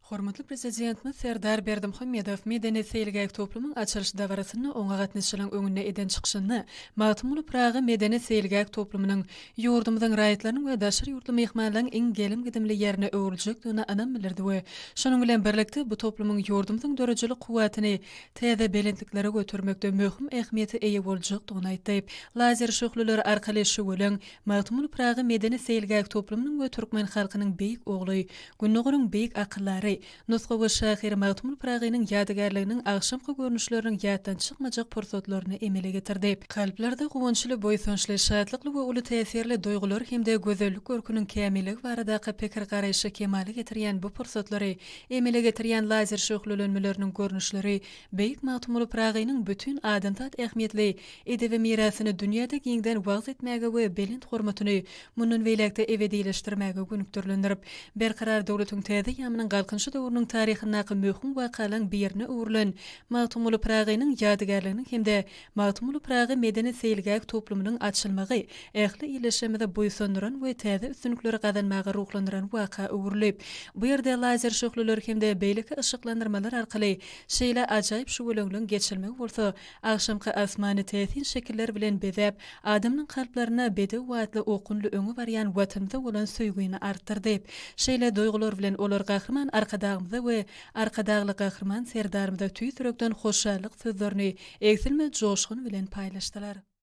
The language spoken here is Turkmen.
Hormatly Prezidentimiz Serdar Berdimuhamedow medeni-seýilgäh toplumyň açylyş dabarasynda oňa gatnaşyjylaryň öňünde eden çykyşynda Magtymguly Pyragy medeni-seýilgäh toplumynyň ýurdumyzyň raýatlarynyň we daşary ýurtly myhmanlaryň iň gelim-gidimli ýerine öwrüljekdigine ynam bildirdi we şunuň bilen birlikde bu toplumyň ýurdumyzyň döredijilik kuwwatyny täze belentliklere götermekde möhüm ähmiýete eýe boljakdygyny aýtdy. Lazer şöhleleri arkaly şüweleň Magtymguly Pyragy medeni-seýilgäh toplumynyň we türkmen halkynyň beýik ogly, Gündogaryň beýik akyldary, nusgawy şahyr Magtymguly Pyragynyň ýadygärliginiň agşamky görnüşleriniň ýatdan çykmajak pursatlaryny emele getirdi. Kalplarda guwançly, buýsançly, şatlykly we uly täsirli duýgular hem-de gözellik görküniň kämilligi baradaky pikir-garaýşy kemala getirýän bu pursatlary emele getirýän lazer şöhlelenmeleriniň görnüşleri beýik Magtymguly Pyragynyň bütin adamzat ähmiýetli Edebi mirasyny dünýäde giňden wagyz etmäge we belent hormatyny mundan beýläk-de ebedileşdirmäge gönükdirilendir. Berkarar döwletiň täze ýamynyň Galkynyşy döwrüniň taryhyndaky möhüm wakalaň birine öwrülen Magtymguly Pyragynyň ýadygärliginiň hem-de Magtymguly Pyragy medeni-seýilgäh toplumynyň açylmagy ähli ildeşlerimizi buýsandyran we täze üstünlikleri gazanmaga ruhlandyran waka öwrülip, bu ýerde lazer şöhleler hem-de beýleki yşyklandyrmalar arkaly şeýle ajaýyp şüweleňligiň geçirilmegi bolsa Agşamky asmany täsin şekiller bilen bezäp, adamynyň kalplaryna bedew watly okunly öňe barýan Watanymyza bolan söýgüni artdyrdy. Şeýle duýgular bilen olar Gahryman Arkadagymyza we Arkadagly Gahryman Serdarymyza tüýs ýürekden hoşallyk sözlerini egsilmez joşgun bilen paýlaşdylar.